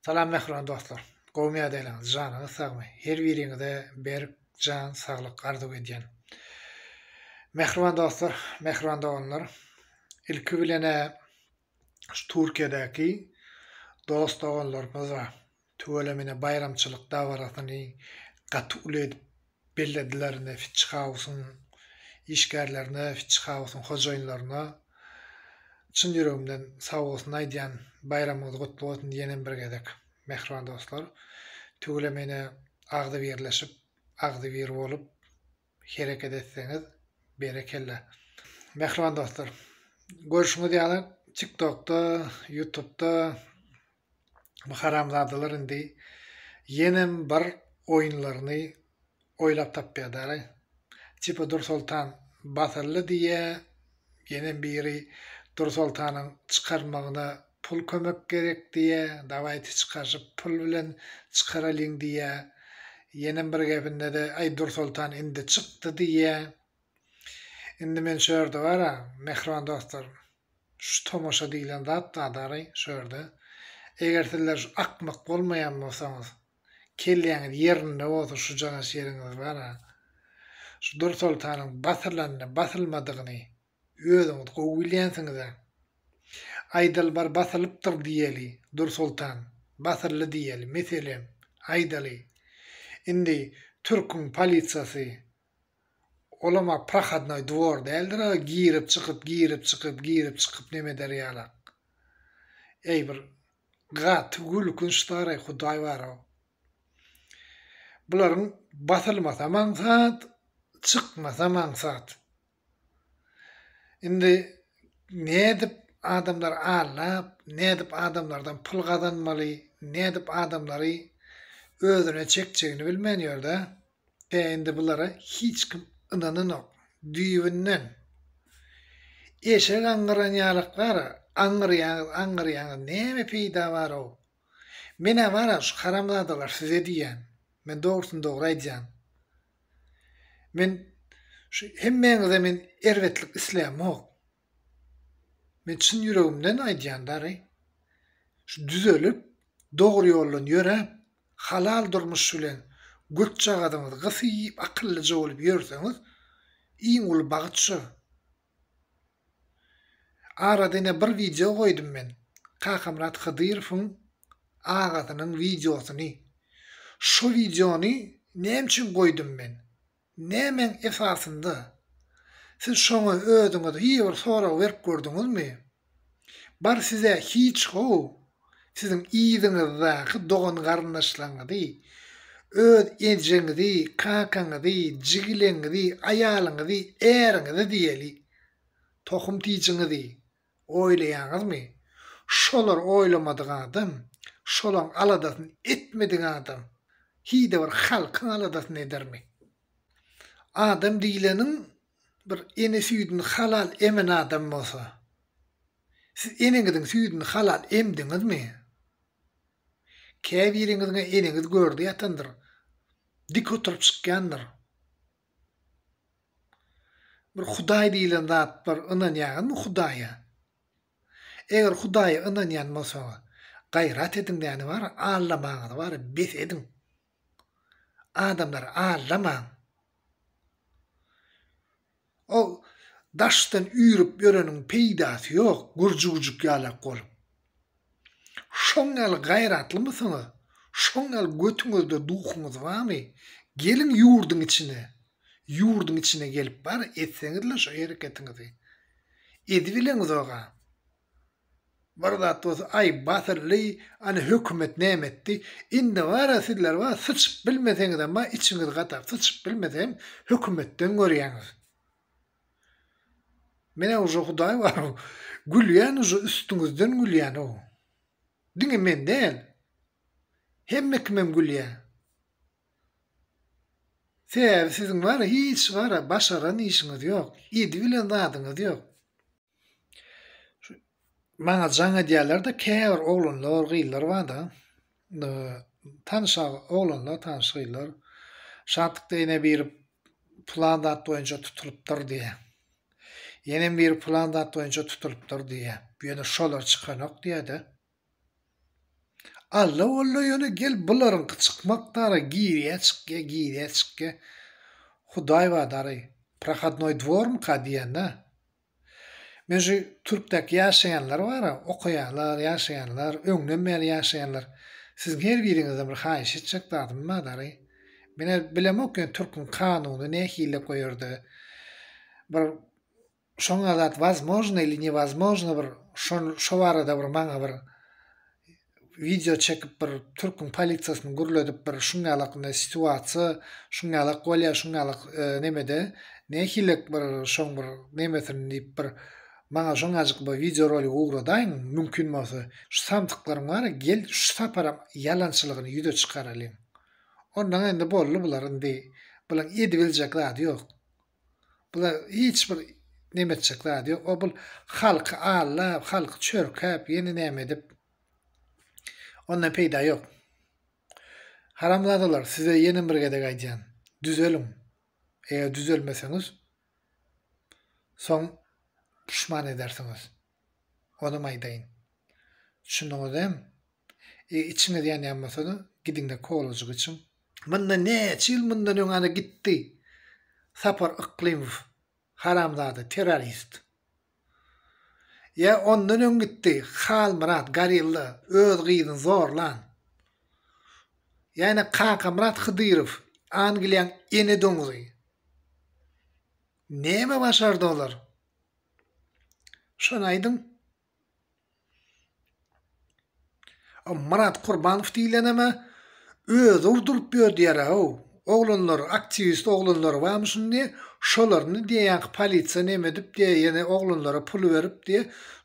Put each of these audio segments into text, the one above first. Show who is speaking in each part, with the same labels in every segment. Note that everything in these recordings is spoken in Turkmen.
Speaker 1: Salam mähriban dostlar. Gowmy ýadaýlaryňyz janyňyz sagmy her biriňize berk jan saglyk arzuw edýän. Mähriban dostlar mähriban doganlar ilki bilene şu Türkiýedäki dost doganlarymyza tüweleme ine baýramçylyk dabarasyny gaty uly edip bellediler indi Fitch Hausyň işgärlerine Fitch Hausyň hojaýynlaryna çyn ýüregimden sag bolsun aýdýan baýramyňyz gutly bolsun diýenem bir gezek mähriban dostlar tüweleme ine agzybirleşip agzybir bolup hereket etseňiz berekella mähriban dostlar görşüňiz ýaly tik tokda ýutubda Bu haramzadalar indi ýenem bir oýunlaryny oýlap tapýadaraý. Çypa Dursoltan basyldy diýýä, ýenem biri Dursoltanyň çykarmagyna pul kömek gerek diýýä, dawaýte çykaryşyp pul bilen çykaralyň diýýä, ýenem bir gepinde-de aý Dursoltan indi çykdy diýýä. Indi men şu ýerde bar-a, mähriban dostlarym. Şu tomaşa diýlen zat badary şu ýerde. Eger sizler şu akmak bolmaýan bolsaňyz, kelläňiz ýerinde bolsa şu janaş ýeriňiz bar-a, şu Dursoltanyň basylanyny, basylmadygyny özüňiz gowy bilýänsiňiz-ä. Aýdaly bar basylypdyr diýeli, Dursoltan, basyldy diýeli, meselem, aýdaly. Indi türküň polisiýasy Olam a prohodnoý dwor däldir a girip çykyp girip çykyp girip çykyp neme eder ýalak. Eý bir gaty gülkünç staraý hudaý barow. Bularyň basylmasam aňsat çykmasam aňsat. Indi nädip adamlar allap, nädip adamlardan pul gazanmaly, nädip adamlary özüne çekjegini bilmän ýör-dä. Tä indi bulara hiç kim ynananok. Düýbünden. Eşek aňňyran ýalyklar, aňňyrýaňyz, aňňyrýaňyz, näme peýda bar-ow? Men-ä bar-a şu haramzadalar size diýýän. Men dogrusyny dogry aýdýan. Men şu hemmäňize men erbetlik islämok. Men çyn ýüregimden aýdýan dary. Şu düzelip, dogry ýoldan ýöräp, halal durmuş bilen gökjagazyňyzy gysyp, akyllyja bolup ýörseňiz, iň uly bagyt şo. Arada ine bir wideo goýdum men Kakamyrat Hydyrowyň agasynyň wideosyny. Şo wideony näme üçin goýdum men? Nämäň esasynda? Siz şoňa özüňiz hir bir sorag berip gördüňizmi? Bar size hiç gowy siziň yzyňyzdaky dogan garyndaşlaryňyzy, öz ejeňizi, kakaňyzy, jigileňizi, aýalyňyzy, äriňizi diýeli. Tohum tijiňizi oýlaýaňyzmy? Şolar oýlamadyk adam, şolaň aladasyny etmedik adam hide bir halkyň aladasyny edermi? Adam diýleniň bir ene süýdüni halal emen adam bolsa, siz eneňiziň süýdüni halal emdiňizmi? Käbiriňiziň-ä eneňiz görde ýatandyr, dik oturyp çykýandyr. Bir Hudaý diýlen zat bar, ynanýaňyzmy Hudaýa? Eger Hudaýa ynanýan bolsaňyz, gaýrat ediň däni bar, aldamaňyzy bar, bes ediň. Adamlary aldamaň. O daşdan üýrüp ýöreniň peýdasy ýok, gurjugujyk ýalak bolup. Şoň ýaly gaýratlymysyňyz, şoň ýaly götüňizde duhuňyz barmy, geliň ýurduň içine, ýurduň içine gelip bar etseňizle şo hereketiňizi. Edibileňizoga. Bir zat bolsa aý batyrly ana hökümet näme etdi indi bara sizler bar syçyp bilmeseňizem bar içiňiz gatap syçyp bilmesem hökümetden görýäňiz menä uje hudaý bar gülýän uje üstüňizden gülýän o diňe men däl hemme kimem gülýä sebäbi siziň bara hiç bara başaran işiňiz ýok edi bilen zadyňyz ýok. Maňa jaň edýärler-de, käbir oglanlar, gyzlar bar-da, tanyş oglanlar, tanyş gyzlar, Şatlykda ene biri pylan zat boýunça tutulypdyr diýýär. Ýenem biri pylan zat boýunça tutulypdyr diýýär. Ýöne şolar çykanok diýýär-de. Alla walla ýöne gel bularyňky çykmak dara girýä çykýa girýä çykýa hudaý bar dary prohodnoý dwormyka diýýänä men şu türkdäki ýaşaýanlar bara okaýanlar ýaşaýanlar öňden bäri ýaşaýanlar siziň her biriňizden bir haýyş etjek zadym bar dary menä bilemok ýöne türküň kanuny nähili goýarda bir Şoňa zat wazmožno ili newazmožno bir şol şo barada bir maňa bir wideo çekip bir türküň polisiýasyny gürledip bir şuň ýalaknda situasiýa şuň ýalak bolýa şuň ýalak nemede nähilek bir şoň bir nemesini diýip bir maňa şoňajyk bir wideo rolik ugradaýyň mümkin bolsa şu samsyklaryň bar gel şu saparam ýalançylygyny ýüze çykaralyň onnoň indi boldy bular indi bulaň edibiljek zady ýok. Bular hiç bir neme etjek zady ýok. O bul halky aldap, halky çörkäp, ýene näme edip ondan peýda ýok. Haramzadalar size ýene bir gezek aýdýan, düzeliň. Eger düzelmeseňiz soň puşman edersiňiz. Onam aýdaýyn. Düşündiňizem? E, içiňiz ýanýan bolsa-da, gidiň-de kollejik içiň. Mundan näçe ýyl mundan öň ana gitdi Sapar Yklymow, haramzada, terrorist. Ýa ondan öň gitdi Halmyrat, gorilla, öz gyzyny zorlan. Ýa-da Kakamyrat Hydyrow, Angliýaň ene doňzy. Näme başardy olar? Şony aýdyň. O Myrat Kurbanow diýileneme özi urduryp ýör diýer-ow. Oglanlar, aktiwist oglanlar barmy şindi, şolaryny diýe ýaňky polisiýa neme edip diýe ýene oglanlara pul berip diýe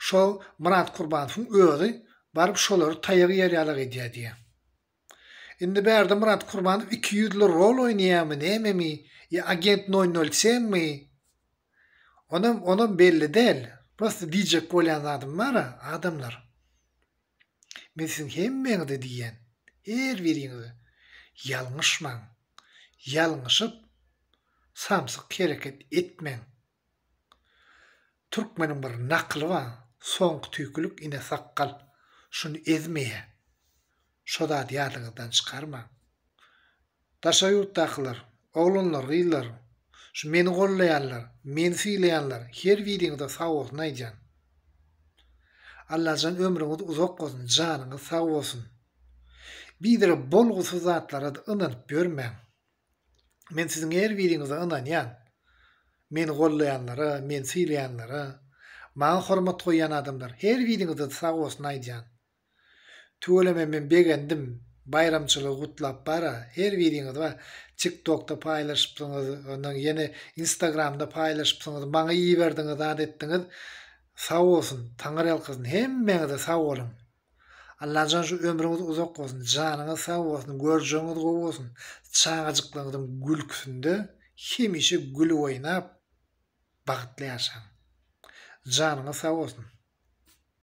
Speaker 1: şo Myrat Kurbanowyň özi baryp şolary taýak ýer ýalak edýär diýe. Indi Berdimyrat Kurbanow iki ýüzli rol oýnaýarmy nämemi ýa agent nol nol senmi onam onam belli däl prosta diýjek bolýan zadym bara adamlar men siziň hemmeňize diýýän her biriňize ýalňyşmaň ýalňyşyp samsyk hereket etmäň. Türkmeniň bir nakyly bar, Soňky tüýkülik ine sakgal. Şuny ezmeýä. Şo zady ýadyňyzdan çykarmaň. Daşary ýurtdakylar, oglanlar, gyzlar, şu meni gollaýanlar, meni sylaýanlar her biriňize sag bolsun aýdýan. Allajan ömrüňiz uzak bolsun, janyňyz sag bolsun. Bizere bolgusyz zatlara-da ynanyp ýörmäň. Men siziň her biriňize ynanýan. Meni gollaýanlara, meni sylaýanlara, maňa hormat goýýan adamlar her biriňize sag bolsun aýdýan. Tüweleme men begendim, baýramçylygy gutlap bara her biriňiz bar, tiktokda paýlaşypsyňyz, ondan ýene instagramda paýlaşypsyňyz, maňa iberdiňiz, zat etdiňiz, sag bolsun, taňyrýalkasyn, hemmeňize sag boluň. Allajan şu ömrüňiz uzak bolsun, janyňyz sag bolsun, görjegiňiz gowy bolsun, çagajyklaryňyzyň gülküsinde hemişe gülüp oýnap bagtly ýaşaň. Janyňyz sag bolsun.